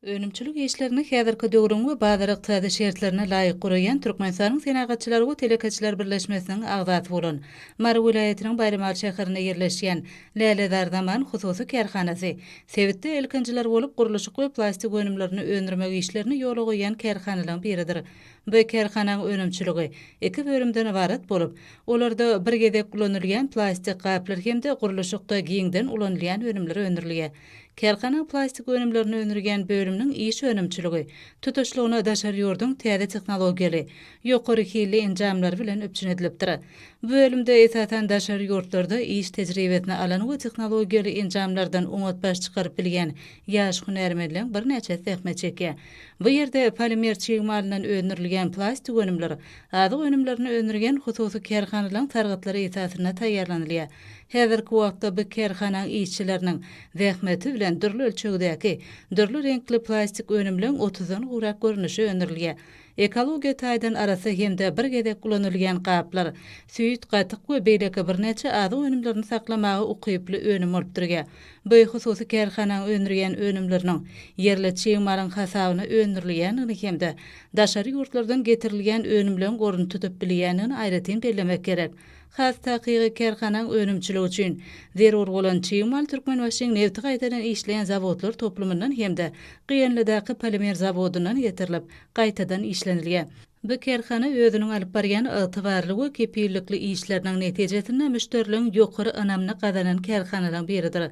Önümçilik işlerini häzirki döwrüň we bazar ykdysady şertlerine laýyk guraýan Türkmenistanyň Senagatçylar we telekeçiler birleşmesiniň agzasy bolan Mary welaýatynyň Baýramaly şäherinde ýerleşýän Lälezar Zaman hususy kärhanasy sebitde ilkinjiler bolup gurluşyk we plastik önümlerini öndürmek işlerini ýola goýýan kärhanalaryň biridir. Bu kärhanaň önümçiligi iki bölümden ybarat bolup, olarda bir gezek ulanylýan plastik gaplar hem-de gurluşykda giňden ulanylýan önümler öndürilýär. Kärhananyň plastik önümlerini öndürýän bölüminiň iş önümçiligi tutuşlygyna daşary ýurduň täze tehnologiýaly, ýokary hilli enjamlary bilen üpjün edilipdir. Bu bölümde, esasan, daşary ýurtlarda iş tejribesini alan we tehnologiýaly enjamlardan oňat baş çykaryp bilýän ýaş hünärmenleriň birnäçesi zähmet çekýär. Bu ýerde polimer çig malyndan öndürilýän plastik önümler azyk önümlerini öndürýän hususy kärhanalaryň sargytlary esasynda taýýarlanylýar. Häzirki wagtda bu kärhananyň işçileriniň zähmeti bilen dürli ölçegdäki, dürli reňkli plastik önümleň otuzdan gowrak görnüşi öndürilýär. Ekologiýa taýdan arassa hem-de bir gezek ulanylýan gaplar, süýt, gatyk we beýleki birnäçe azyk önümlerini saklamaga ukyply önüm bolup durýar. Bu hususy kärhananyň öndürýän önümleriniň ýerli çig malyň hasabyna öndürilýändigini hem-de daşary ýurtlardan getirilýän önümleň ornuny tutup bilýändigini aýratyn bellemek gerek. Has takygy, kärhanaň önümçiligi üçin zerur bolan çig mal Türkmenbaşyň nebti gaýtadan işleýän zawodlar toplumyndan hem-de GNL-daky polimer zawodyndan getirilip, gaýtadan işlenilýär. Bu kärhana özüniň alyp barýan ygtybarly we kepillikli işleriniň netijesinde müşderileriň ýokary ynamyny gazanan kärhanalaryň biridir.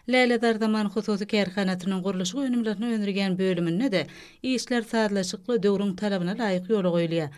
Lälezarzaman hususy kärhanasynyň gurluşyk önümlerini öndürýän bölüminde-de işler sazlaşykly, döwrüň talabyna laýyk ýola goýulýar.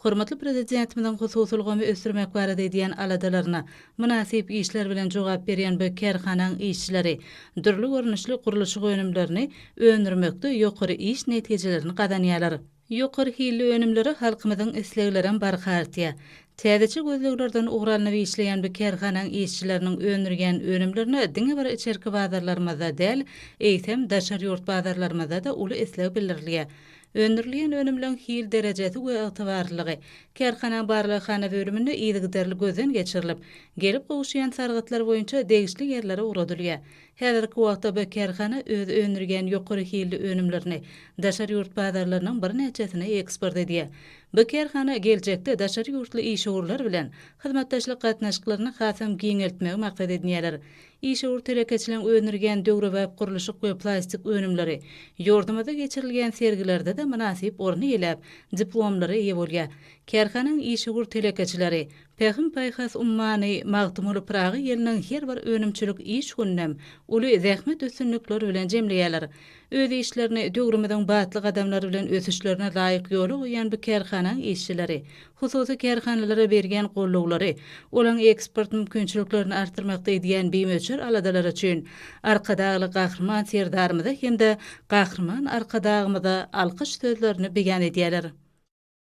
Hormatly Prezidentimiziň hususy ulgamy ösdürmek barada edýän aladalaryna mynasyp işler bilen jogap berýän bu kärhanaň işçileri dürli görnüşli gurluşyk önümlerini öndürmekde ýokary iş netijelerini gazanýarlar. Ýokary hilli önümlere halkymyzyň isleglerem barha artýar. Täzeçe gözleglerden ugur alnyp işleýän bu kärhanaň işçileriniň öndürýän önümlerine diňe bir içerki bazarlarymyzda däl, eýsem, daşary ýurt bazarlarymyzda-da uly isleg bildirilýär. Öndürilýän önümleň hil derejesi we ygtybarlylygy kärhanaň barlaghana bölüminde yzygiderli gözden geçirilip, gelip gowuşýan sargytlar boýunça degişli ýerlere ugradylýar. Häzirki wagtda bu kärhana öz öndürýän ýokary hilli önümlerini daşary ýurt bazarlarynyň birnäçesine eksport edýär. Bu kärhana geljekde daşary ýurtly işewürler bilen hyzmatdaşlyk gatnaşyklaryny hasam giňeltmegi maksat edinýärler. Işewür telekeçiligiň öndürgen döwrebap gurluşyk we plastik önümleri ýurdumyzda geçirilýän sergilerde-de mynasyp orun eýläp, diplomlara eýe bolýar. Kärhananyň işewür telekeçileri Pähim-paýhas ummany Magtymguly Pyragy ýylynyň her bir önümçilik iş gününem uly zähmet üstünlikleri bilen jemleýärler. Öz işlerini döwrümiziň batly gadamlary bilen ösüşlerine laýyk ýola goýýan bu kärhananyň işçileri hususy kärhanalara berýän gollawlary, olaryň eksport mümkinçiliklerini artdyrmakda edýän bimöçber aladalary üçin Arkadagly Gahryman Serdarymyza hem-de Gahryman Arkadagymyza alkyş sözlerini beýan edýärler.